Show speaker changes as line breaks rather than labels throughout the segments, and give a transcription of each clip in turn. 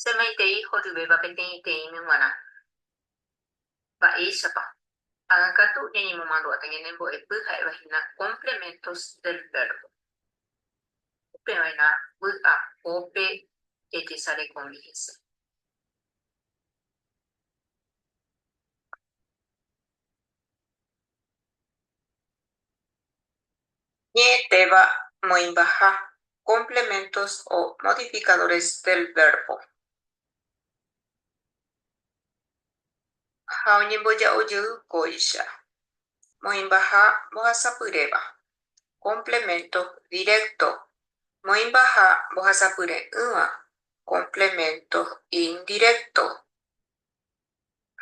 Semaitei horyvéva peteĩteĩmi g̃uarã. Mba'éichapa? Ag̃akatu ñañemomandu'áta ñane mbo'epy ha'éva hína complementos del verbo. Upe va'erã vy'apópe jajesarekomi hese. Ñe'ẽtéva moĩmbaha complementos o modificadores del verbo. Ha oñemboja'o jey kóicha. Moĩmbaha mbohasapyréva. Complemento directo. Moĩmbaha mbohasapyre'ỹva. Complemento indirecto.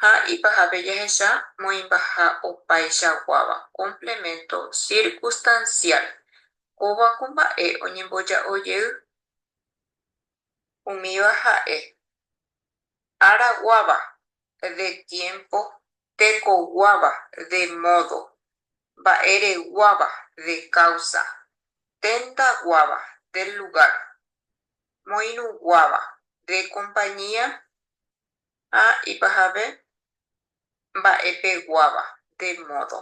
ha ipahápe jahecha moĩmbaha opaichaguáva, complemento circunstancial, kóva ko mba'e oñemboja'o jey. Umíva ha'e, ára guáva, de tiempo, teko guáva, de modo, mba'e reguáva, de causa, tenda guáva, del lugar, moirũ guáva, de compañía, Ha ipahave mba'epeguáva, de modo.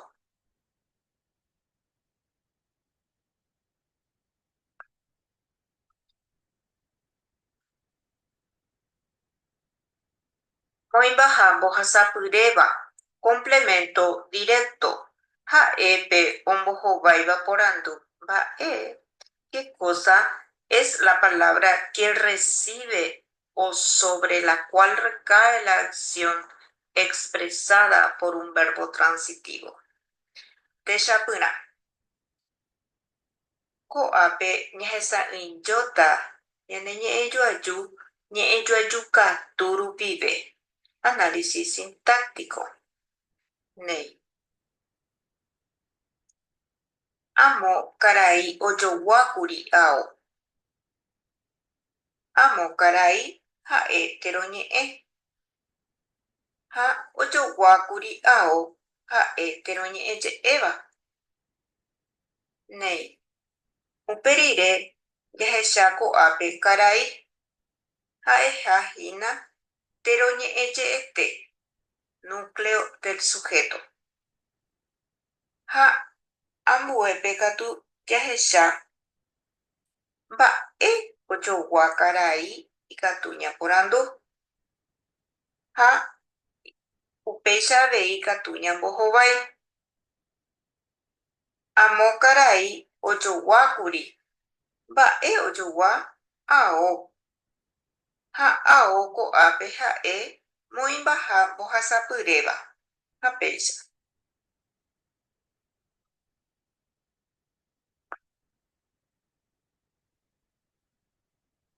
Moĩmbaha mbohasapyréva, complemento directo, ha'e pe ombohováiva porandu mba'e, qué cosa es la palabra que recibe o sobre la cual recae la acción expresada por un verbo transitivo. Techapyrã. Ko'ápe ñahesa'ỹijóta ñane ñe'ẽjoaju ñe'ẽjoaju katu rupive, análisis sintáctico. Néi. Amo karai ojoguákuri ao. Amo karai ha'e térõ ñe'ẽ, ha ojoguákuri ao ha'e térõ ñe'ẽ je'éva. Néi, upe rire jahecha ko'ápe karai ha'eha hína térõ ñe'ẽ je'ete, núcleo del sujeto. Ha ambuépe katu jahecha Mba'e ojogua karai ikatu ñaporandu, ha upéicha avei ikatu ñambohovái. Amo karai ojogua kuri. Mba'e ojogua? Ao. Ha ao ko'ápe ha'e moĩmbaha mbohasapyréva. Ha péicha.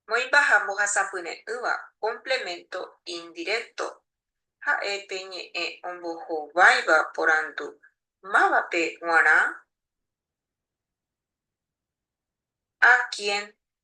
Moĩmba ha mbohasapyre'ỹva complemento indirecto ha'e pe ñe'ẽ ombohováiva porandu mávape g̃uarã? A quién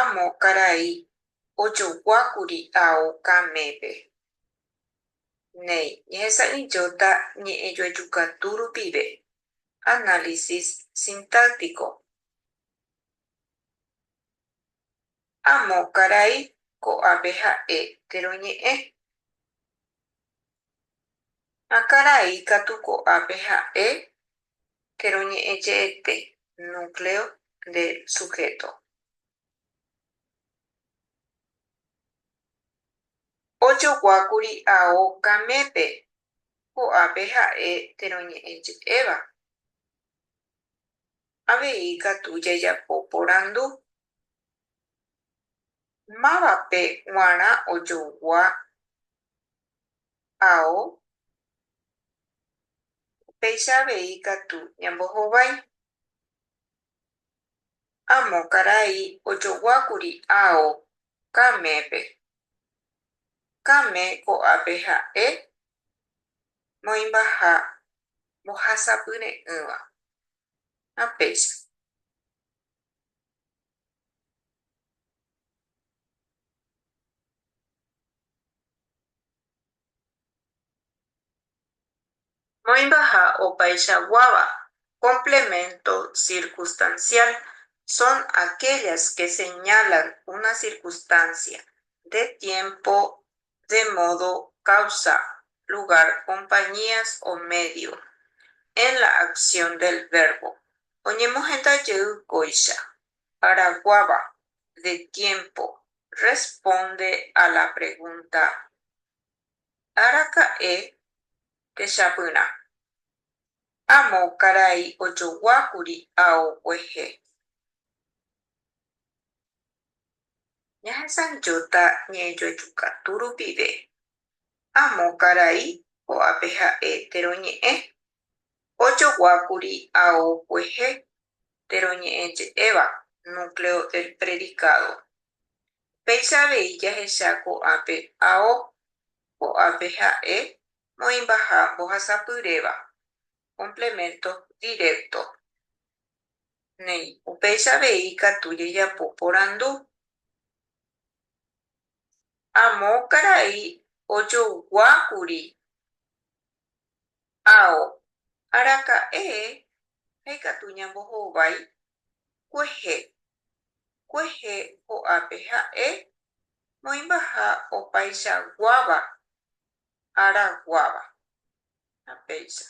Amo karai ojoguákuri ao kamépe. Néi, ñehesa'ỹijóta ñe'ẽjoajukatu rupive, análisis sintáctico. Amo karai ko'ápe ha'e térõ ñe'ẽ. Ha karai katu ko'ápe ha'e che roñe'ẽje'ete, núcleo del sujeto. Ojoguákuri ao kamépe, ko'ápe ha'e che roñe'ẽje'éva. Avei katu jajapo porandu, Mávape g̃uarã ojogua ao, upéicha avei katu ñambohovái. Amo karai ojoguákuri ao Kamépe. Kame ko'ápe ha'e moĩmbaha mbohasapyre'ỹva. Ha péicha. Moĩmbaha opaichaguáva, complemento circunstancial, son aquellas que señalan una circunstancia de tiempo de modo causa, lugar, compañías o medio, en la acción del verbo, oñemohenda jey kóicha, araguáva, de tiempo, responde a la pregunta Araka'e techapyrã. Amo karai ojoguákuri ao guehe. Ñahesanjóta ñe'ẽjoajukatu rupive. Amo karai ko'ápe ha'e térõ ñe'ẽ. Ojoguákuri ao kuehe térõ ñe'ẽ je'éva Núcleo del Predicado. Upéicha avei jahecha ko'ápe ao ko'ápe ha'e moĩmbaha mbohasapyréva, complemento directo. néi, upéicha avei ikatu jejapo porandu. Amo karai ojogua kuri ao araka'e ha ikatu ñambohovái kuehe kuehe ho'ápe ha'e moĩmbaha opaichaguáva ára guáva. Ha péicha.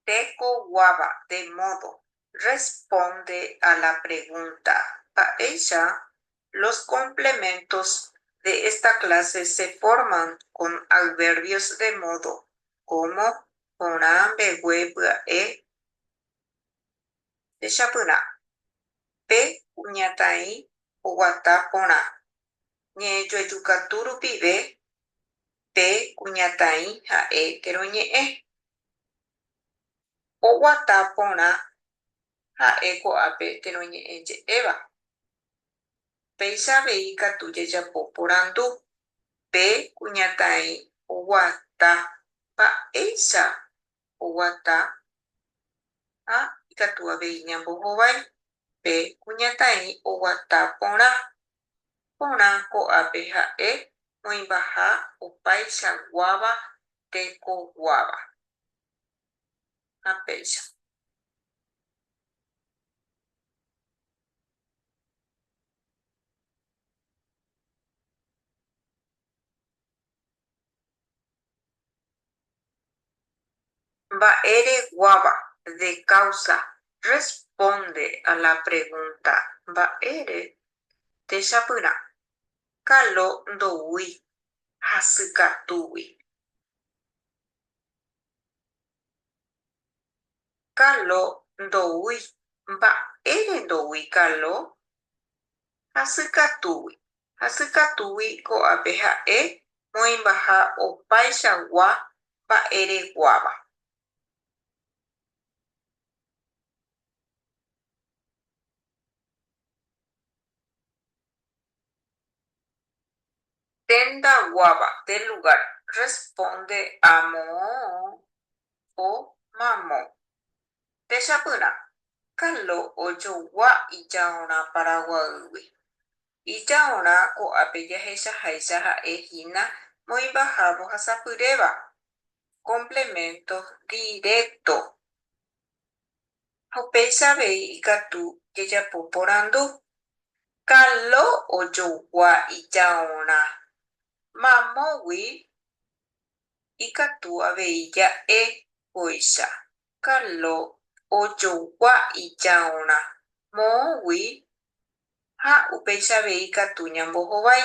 Tekoguáva de módo. Responde a la pregunta Mba'éicha los complementos de esta clase se forman con adverbios de módo, como, porã, mbegue, pya'e? Techapyrã, pe kuñataĩ oguata porã, ñe'ẽjoajukatu rupive pe kuñataĩ ha'e térõ ñe'ẽ. Oguata porã ha'e ko'ápe térõ ñe'ẽ je'éva. Péicha avei ikatu jajapo porandu, pe kuñataĩ oguata mba'éicha oguata ha ikatu avei ñambohovái pe kuñataĩ oguata porã. Porã ko'ápe ha'e oĩmbaha opaicha guáva teko guáva. Ha péicha. Mba'e reguáva, de causa, responde a la pregunta mba'ére techapyrã. Kalo ndoúi hasykatúgui. Kalo ndoúi. Mba'ére ndoúi kalo? Hasykatúgui, hasykatúgui ko'ápe ha'e moĩmbaha opaichagua mba'ereguáva. Tendaguáva de lugar responde amo o mamo. techapyrã, Carlo ojogua ijaorã Paraguaýgui. Ijaorã ko'ápe jahechaháicha ha'e hína moĩmbaha mbohasapyréva, complemento directo. Ha upéicha avei ikatu jajapo porandu, Carlo ojogua ijaorã mamógui ikatu avei ja'e kóicha. Carlo ojogua ijárõ moõgui ha upéicha avei ikatu ñambohovái.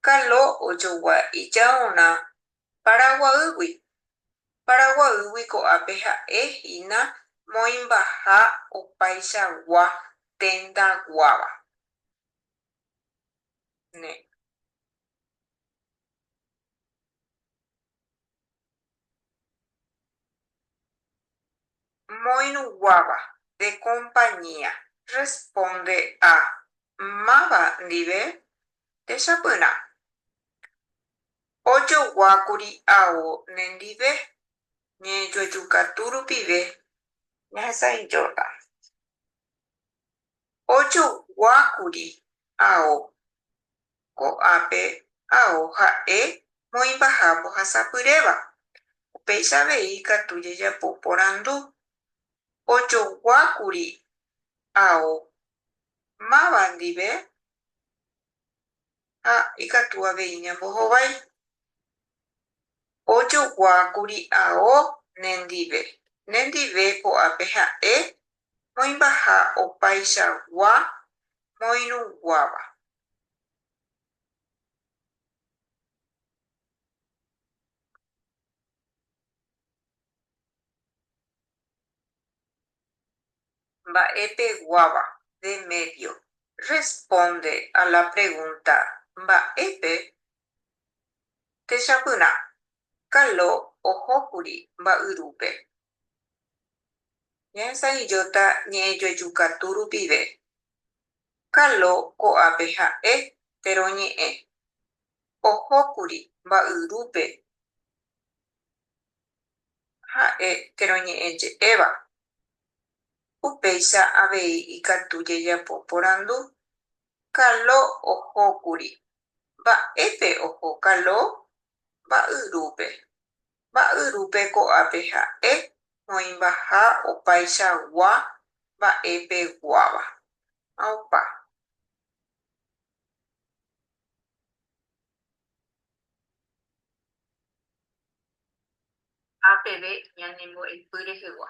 Carlo ojogua ijárõ Paraguaýgui. Paraguaýgui ko'ápe ha'e hína moĩmbaha opaichagua tenda guáva. Moirũguáva, de compañía. Responde a, Máva ndive techapyrã. Ojoguákuri ao nendive, ñejuejukatu rupive. Ñahesãi Jordan. Ojoguákuri ao Ko'ápe ao ha'e moĩmbaha mbohasapyréva. Upéicha avei ikatu jajapo porandu. Ojoguákuri ao máva ndive ha ikatu avei ñambohovái. Ojoguákuri ao nendive. Nendive ko'ápe ha'e moĩmbaha opaichagua moirũguáva. Mba'e peguáva, de medio, responde a la pregunta Mba'épe techapyrã? Kalo ohókuri mba'yrúpe Ñaesãijóta ñe'ẽjoejukatu rupive. Kalo ko'ápe ha'e térõ ñe'ẽ. Ohókuri mba'yrúpe ha'e térõ ñe'ẽ je'éva. Upéicha avei ikatu jajapo porandu. Kalo ohókuri. Mba'épe oho Kalo? Mba'yrúpe. mba'yrúpe ko'ápe ha'e oĩmbaha opaichagua mba'e peguáva. Ha opa. Ha peve ñanembo'epy rehegua.